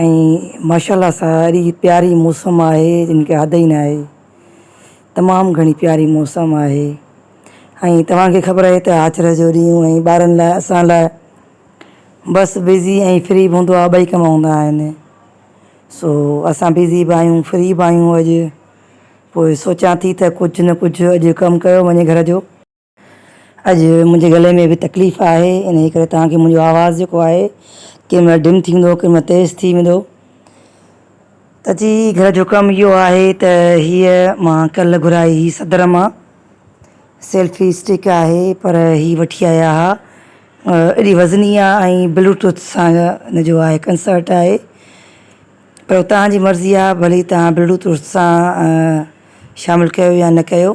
۽ ماشاءالله ساري پياري موسم آهي جن کي حد ئي نه آهي تمام گهڻي پياري موسم آهي ۽ توهان کي خبر آهي ته آچر جو ڏينهن ۽ ٻارن لاء اسان لاء بس بزي ۽ فري به هوندو آهي ٻئي ڪم هوندا آهن سو اسان بزي به آهيون فري به آهيون اڄ پوء سوچان ٿي ته ڪجهه نه ڪجهه اڄ ڪم ڪيو وڃي گهر جو اڄ منهنجي گلي ۾ به تڪليف آهي انهي ڪري توهان کي منهنجو آواز جيڪو آهي ڪنهن مهل ڊم ٿيندو ڪنهن مهل تيز ٿي ويندو ته جي گهر جو ڪم اهو آهي ته هيء مان ڪلهه گهرائي هئي صدر مان سيلفي اسٽڪ آهي پر هي وٺي آيا ها ايڏي وزني آهي ۽ بلوٽوٿ سان ان جو آهي ڪنسرٽ آهي پر توهان جي مرضي آهي ڀلي توهان بلوٽوٿ سان شامل ڪيو يا نه ڪيو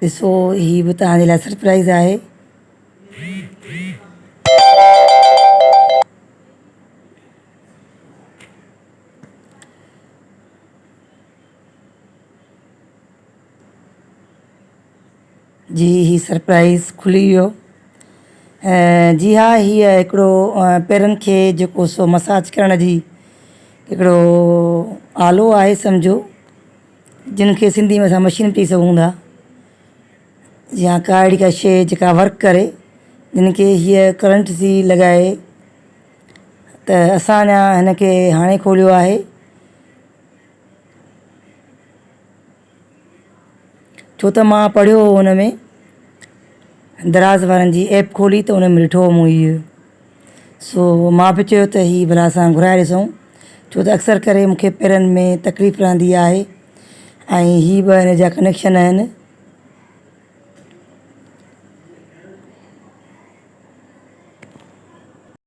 ڏسو هي به توهان جي لاء سرپرائيز آهي. جي هي سرپرائيز کلي ويو. جي ها هيء هڪڙو پيرن کي جيڪو سو مساج ڪرڻ جي هڪڙو آلو آهي سمجهو جن کي سنڌي ۾ اسان مشين به چئي سگهون ٿا يا ڪا اهڙي ڪا شيء جيڪا ورڪ ڪري جن کي هيء ڪرنٽ سي لڳائي ته اسان اڃان هن کي هاڻي کوليو آهي. ڇو ته مان پڙهيو هو ان ۾ دراز وارن جي ايپ کولي ته ان ۾ ڏٺو هو مون هيء سو مان به چيو ته هيء ڀلا اسان گهرائي ڏسون ڇو ته اڪثر ڪري مونکي پيرن ۾ تڪليف رهندي آهي ۽ هي ٻه ان جا ڪنيڪشن آهن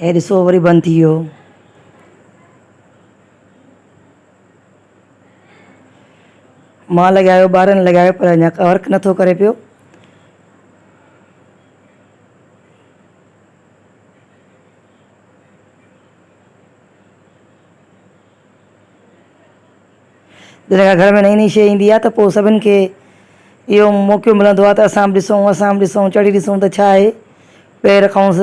هي ڏسو وري بند ٿي ويو مان لڳايو ٻارن لڳايو پر اڃا ورڪ نٿو ڪري پيو جڏهن ڪا گهر ۾ نئين نئين شيء ايندي آهي ته پوء سڀن کي اهو موقعو ملندو آهي ته اسان به ڏسون اسان به ڏسون چڙهي ڏسون ته ڇا آهي پير کانئس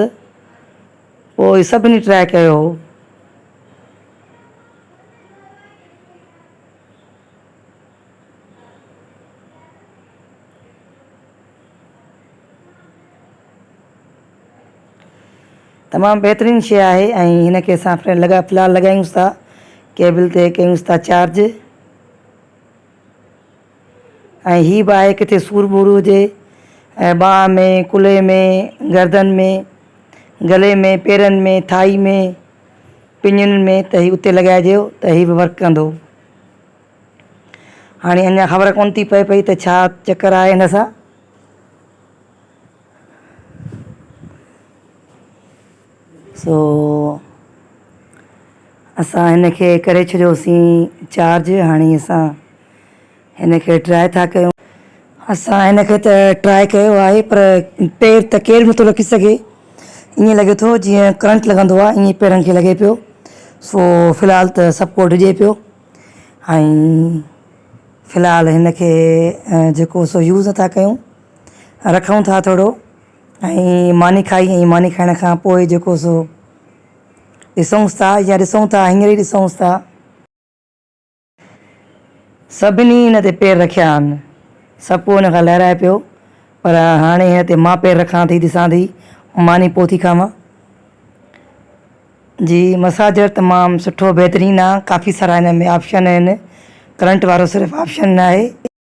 پوء سڀني ٽراء ڪيو هو. تمام بهترين شي آهي ۽ هن کي اسان فرينڊ لڳا في الحال لڳايونس ٿا ڪيبل تي ڪيونس ٿا چارج ۽ هي به آهي ڪٿي سور ٻور هجي ۽ ٻانهن ۾ ڪلهي ۾ گردن ۾ گلي ۾ پيرن ۾ ٿائي ۾ پڃن ۾ ته هي اتي لڳائجيو ته هي به ورڪ ڪندو هاڻي اڃا خبر ڪونه ٿي پئي پئي ته ڇا چڪر آهي هن سان سو اسان هن کي ڪري ڇڏيوسين چارج هاڻي اسان هن کي ٽرائي ٿا ڪيون اسان هن کي ته ٽرائي ڪيو آهي پر پير ته ڪير به نٿو رکي سگهي ائين لڳي ٿو جيئن ڪرنٽ لڳندو آهي ائين پيرن کي لڳي پيو سو في الحال ته سڀ ڪو ڊڄي پيو ۽ في الحال هن کي جيڪو سو يوز نٿا ڪيون رکون ٿا ٿورو ۽ ماني کائي ۽ ماني کائڻ کان پوء جيڪو سو ڏسونس ٿا يا ڏسون ٿا هينئر ئي ڏسونس ٿا. سڀني هن تي پير رکيا آهن. سڀ ڪو هن کان لهرائي پيو پر هاڻي هن تي مان پير رکان ٿي ڏسان ٿي ماني پوء ٿي کاوان. جي مساجر تمام سٺو بهترين آ ڪافي سارا هن ۾ آپشن آهن ڪرنٽ وارو صرف آپشن ناهي.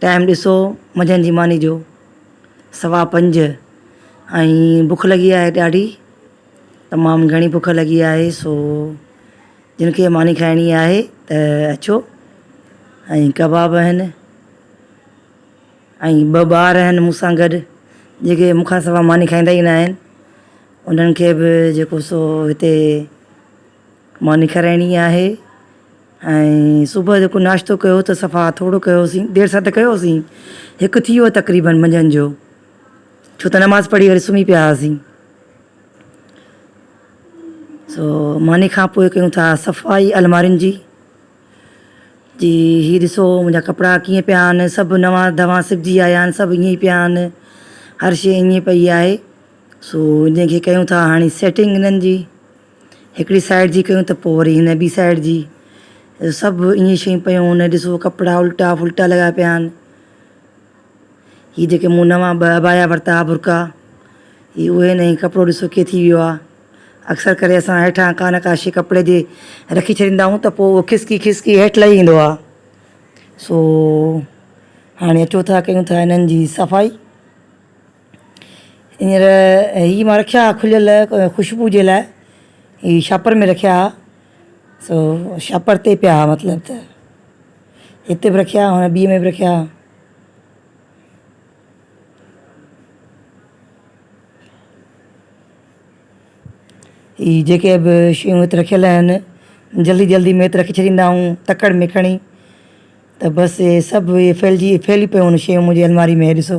ٽائيم ڏسو منجهند جي ماني جو سوا پنج ۽ بک لڳي آهي ڏاڍي تمام گهڻي بک لڳي آهي سو جن کي ماني کائڻي آهي ته اچو ۽ ڪباب آهن ۽ ٻه ٻار آهن مون سان گڏ جيڪي مون کان سوا ماني کائيندا ئي ناهن انهن کي به جيڪو سو هتي ماني کارائڻي آهي ۽ صبح جو ڪو ناشتو ڪيو ته صفا ٿورو ڪيوسين دير سان ته ڪيوسين هڪ ٿي ويو تقريبن منجهند جو ڇو ته نماز پڙهي وري سمهي پيا هئاسين سو ماني کان پوء ڪيون ٿا صفائي المارين جي جي هي ڏسو منهنجا ڪپڙا ڪيئن پيا آهن سڀ نواं دواں سبجي آيا آهن سڀ ائين پيا آهن هر شي ائين پئي آهي سو انهن کي ڪيون ٿا هاڻي سيٽنگ انهن جي هڪڙي سائيڊ جي ڪيون ته پوء وري هن ٻي سائيڊ جي سڀ ائين شيون پيون هن ڏسو ڪپڙا الٽا ڦلٽا لڳا پيا آهن هي جيڪي مون نوان ٻه ابايا ورتا ها برقعا هي اهي نه هي ڪپڙو ڏسو ڪيئن ٿي ويو آهي اڪثر ڪري اسان هيٺان ڪا نه ڪا شي ڪپڙي جي رکي ڇڏيندا آهيون ته پوء اهو کسڪي کسڪي هيٺ لهي ايندو آهي سو هاڻي اچو ٿا ڪيون ٿا هنن جي صفائي ھينئر ھي مان رکيا ھا کليل خوشبو جي لاء ھي شاپر ۾ رکيا ھا سو شاپر تي پيا ھا مطلب ته ھتي بھ رکيا ھا ٻئي ۾ بھ رکيا ھا ھي جيڪي بھ شيون ھتي رکيل اھن جلدي جلدي ۾ ھتي رکي ڇڏيندا آھيون تڪڙ ۾ کڻي ته بس اھي سڀ ھي ڦيلجي ڦيلي پيون شيون منھنجي الماري ۾ ھي ڏسو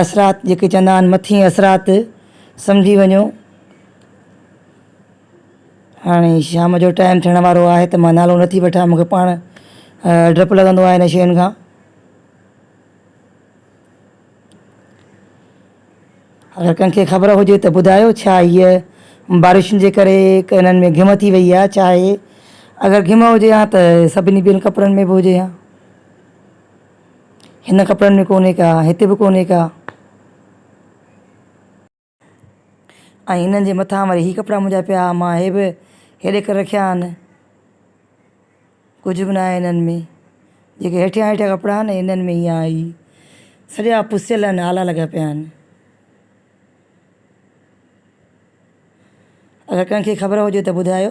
اثرات جيڪي چوندا آهن مٿين اثرات سمجهي وڃو هاڻي شام جو ٽائيم ٿيڻ وارو آهي ته مان نالو نٿي وٺان مون کي پاڻ ڊپ لڳندو آهي ان شين کان اگر ڪنهن کي خبر هجي ته ٻڌايو ڇا هيء بارشن جي ڪري ڪنن ۾ گهم ٿي وئي آهي ڇا اهي اگر گهم هجي ها ته سڀني ٻين ڪپڙن ۾ به هجي ها هن ڪپڙن ۾ ڪونهي ڪا، هت به ڪونهي ڪا. ۽ هنن جي مٿان وري هي ڪپڙا منهنجا پيا، مان هي به هيڏي ڪري رکيا آهن. ڪجهه به ناهي هنن ۾. جيڪي هيٺيان هيٺيان ڪپڙا آهن، هنن ۾ هيئا هي سڄا پسيل ان آلا لڳا پيا آهن. اگر ڪنهن کي خبر هجي ته ٻڌايو.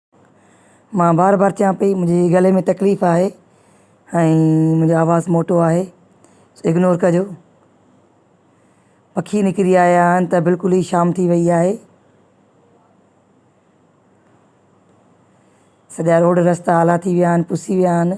مان بار بار چوان پئي منهنجي گلي ۾ تڪليف آهي ۽ منهنجو آواز موٽو آهي اگنور ڪجو پکي نڪري آيا آهن ته بلڪل ئي شام ٿي وئي آهي سڄا روڊ رستا آلا ٿي ويا آهن پسي ويا آهن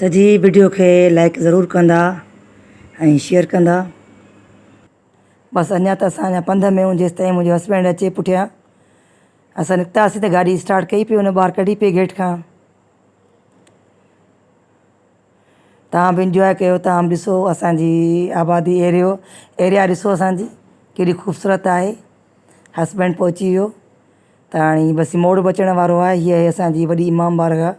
ته جي وڊيو کي لائڪ ضرور ڪندا ۽ شيئر ڪندا. بس اڃا ته اسان اڃا پنڌ ۾ جيستائين منهنجو هسبينڊ اچي پٺيان اسان نڪتاسين ته گاڏي اسٽارٽ ڪئي پئي ان ٻار ڪڍي پئي گيٽ کان توهان به انجواء ڪيو توهان به ڏسو اسانجي آبادي ايريو ايريا ڏسو اسانجي ڪيڏي خوبصورت آهي هسبينڊ پهچي ويو ته هاڻي بس موڙ به اچڻ وارو آهي هي آهي اسانجي وڏي امام بارگاهه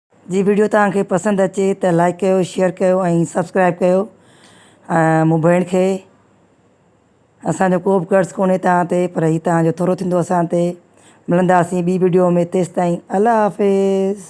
جي ويڊيو توهان کي پسند اچي ته لائڪ ڪيو شيئر ڪيو ۽ سبسڪرائب ڪيو ۽ مون ڀيڻ کي اسان جو ڪو به قرض ڪونهي توهان تي پر هي توهان جو ٿورو ٿيندو اسان تي ملنداسين ٻي ويڊيو ۾ تيسين تائين الله حافظ